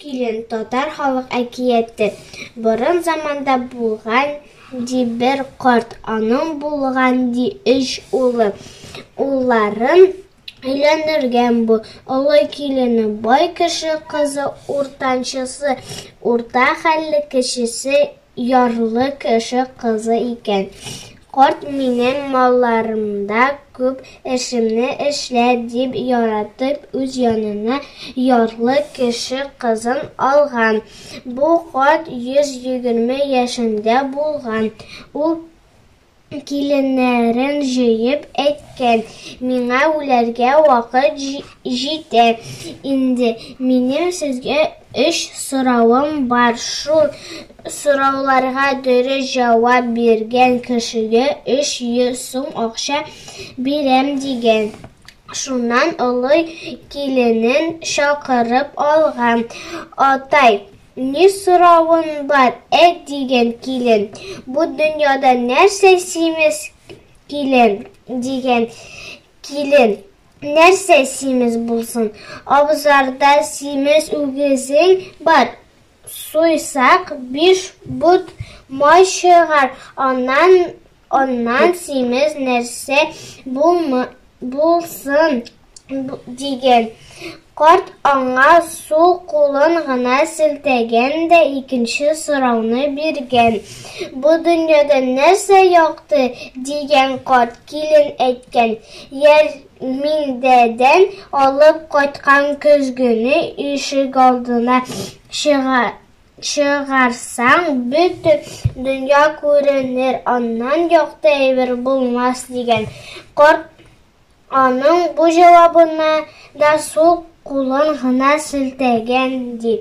килен татар халык әкияте борын заманда булган ди бер карт аның булган ди өч улы улларын Өйләнергән бу олы килене, бай кеше кызы, уртанчысы, урта хәлле кешесе, ярлы кеше кызы икән. Карт минем малларымда күп эшемне эшлә, дип яратып, үз янына ярлы кеше кызын алган. Бу карт 120 яшендә булган. Ул Киленнәрен җыеп әйткән, Миңа үләргә вакыт җитә инде. Минем сезгә өч соравым бар. Шул сорауларга дөрес җавап биргән кешегә өч йөз сум акча бирәм, дигән. Шуннан олы киленен чакырып алган. Атай, Ни соравың бар, ә диген килен, Бу дөньяда нәрсә симез килен, диген килен, Нәрсә симез булсын, абзарда симез үгезең бар, Суйсак, биш бут май чыгар, аннан Аннан симез нәрсә булмы, булсын диген. Карт аңа су кулын гына селтәгән дә икенче сорауны биргән. Бу дөньяда нәрсә якты? дигән карт килен әйткән. Ярминдәдән алып кайткан көзгене ишегалдына чыга Чыгарсаң, бөтен дөнья күренер, аннан якты әйбер булмас, дигән. Карт аның бу җавабына да сул кулын гына селтәгән, ди.